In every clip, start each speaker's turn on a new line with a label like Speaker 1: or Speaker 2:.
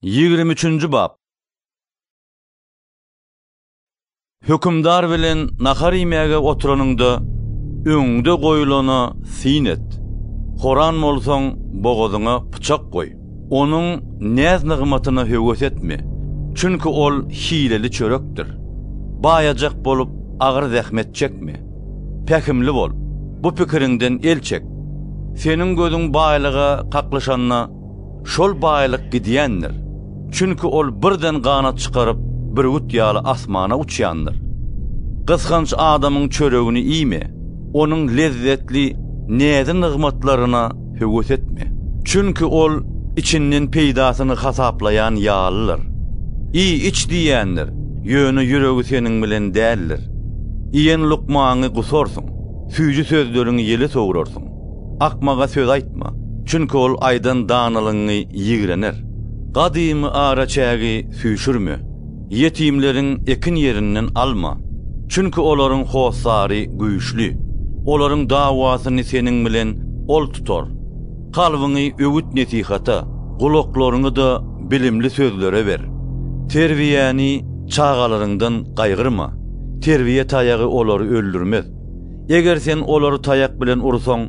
Speaker 1: Ýigrimi üçünji bap. Hökümdar bilen nahar iýmäge oturanyňda, öňüňde goýulana syn et. Horan bolsaň, bogazyňa pyçak goý. Onuň näz-nygmatyna höwes etme, çünki ol hileli çörekdir. Baýajak bolup, agyr zähmet çekme. Pähimli bol, bu pikiriňden el çek. Seniň gözüň baýlyga kaklyşanda, Şol baýlyk gidýändir. Çünki ol birden ganat çykaryp, bürgüt ýaly asmana uçýandyr. Gysganç adamyň çöregini iýme, onuň lezzetli näzi-nygmatlaryna höwes etme. Çünki ol içinden peýdasyny hasaplaýan ýalydyr. Iý-iç diýýändir, ýöne ýüregi seniň bilen däldir. Iýen lukmaňy gusarsyň, süýji sözleriňi ýele sowrarsyň. Akmaga söz aýtma, çünki ol aýdan danalygyňy ýigrener. Gadymy araçägi süýşürme, ýetimleriň ekin ýerinden alma, çünki olaryň hossary güýçli, olaryň dawasyny seniň bilen ol tutar. Kalbyňy öwüt-nesihata, gulaklaryňy-da bilimli sözlere ber. Terbiýäni çagalaryňdan gaýgyrma, terbiýe taýagy olary öldürmez. Eger sen olary taýak bilen ursaň,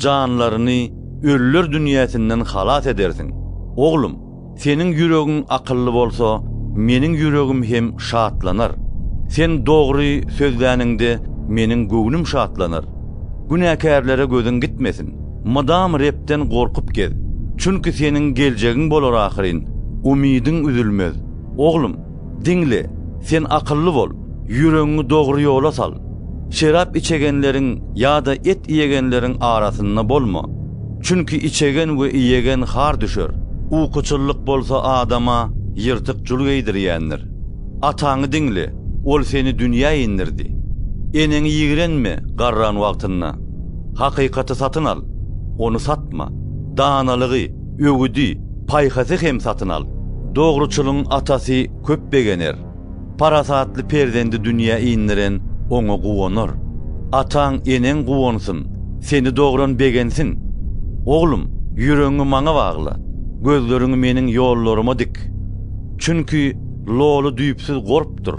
Speaker 1: janlaryny ölüler dünýäsinden halas edersiň. Oglum, seniň ýüregiň akylly bolsa, meniň ýüregim hem şatlanar. Sen dogry sözläniňde, meniň göwnüm şatlanar. Günäkärlere gözüň gitmesin. Mydam Rebden gorkup gez. Çünki seniň geljegiň bolar ahyryn, umydyň üzülmez. Oglum! Diňle, sen akylly bol, ýüregiňi dogry ýola sal. Şerap içegenleriň ýa-da et iýegenleriň arasynda bolma. Çünki içegen we iýegen har düşer. Ukuçyllyk bolsa adama ýyrtyk jul geýdirýändir. Ataňy diňle, ol seni dünýä indirdi. Eneňi ýigrenme garran wagtynda. Hakykaty satyn al, ony satma. Danalygy, Öwüdi, paýhasy hem satyn al. Dogruçylyň atasy köp begener, parasatly perzendi dünýä indiren oňa guwanar. Ataň, eneň guwansyn, seni dogran begensin. Oglum, ýüregiňi maňa bagla, gözleriňi meniň ýollaryma dik. Çünki loly düýpsüz gorpdur,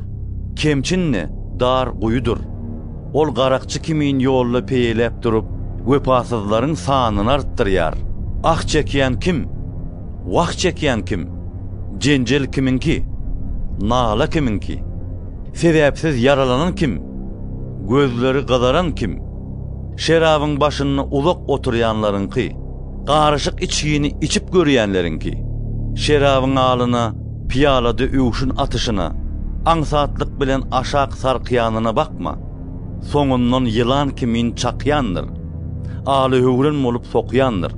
Speaker 1: kemçin-de dar guýudyr. Ol garakçy kimin ýolda peýeläp durup, wepasyzlaryň sanyny artdyrýar. Ah çekýän kim? Wah çekýän kim? Jenjel kimiňki? Nala kimiňki? Sebäpsiz ýaralanan kim? Gözleri gyzaran kim? Şerabyň başynda uzak oturýanlaryňky? Garyşyk içgini içip görýänleriňki? Şerabyň alyna Pyýalada öwşün atyşyna, aňsatlyk bilen aşak sarkýanyna bakma. Soňundan ýylan kimin çakýandyr. Alyhöwren bolup sokýandyr.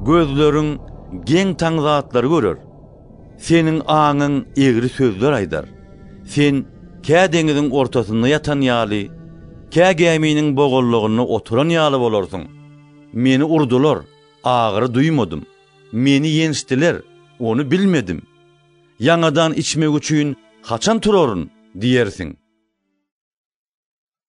Speaker 1: Gözleriň geň taň zatlary görer. Seniň aňyň egri sözler aýdar. Sen kä deňiziň ortasynda ýatan ýaly, kä gäminiň bogalygynda oturan ýaly bolarsyň. Meni urdular, agyry duýmadym. Meni ýençdiler, ony bilmedim. Ýaňadan içmek üçin haçan turaryn? diýersiň.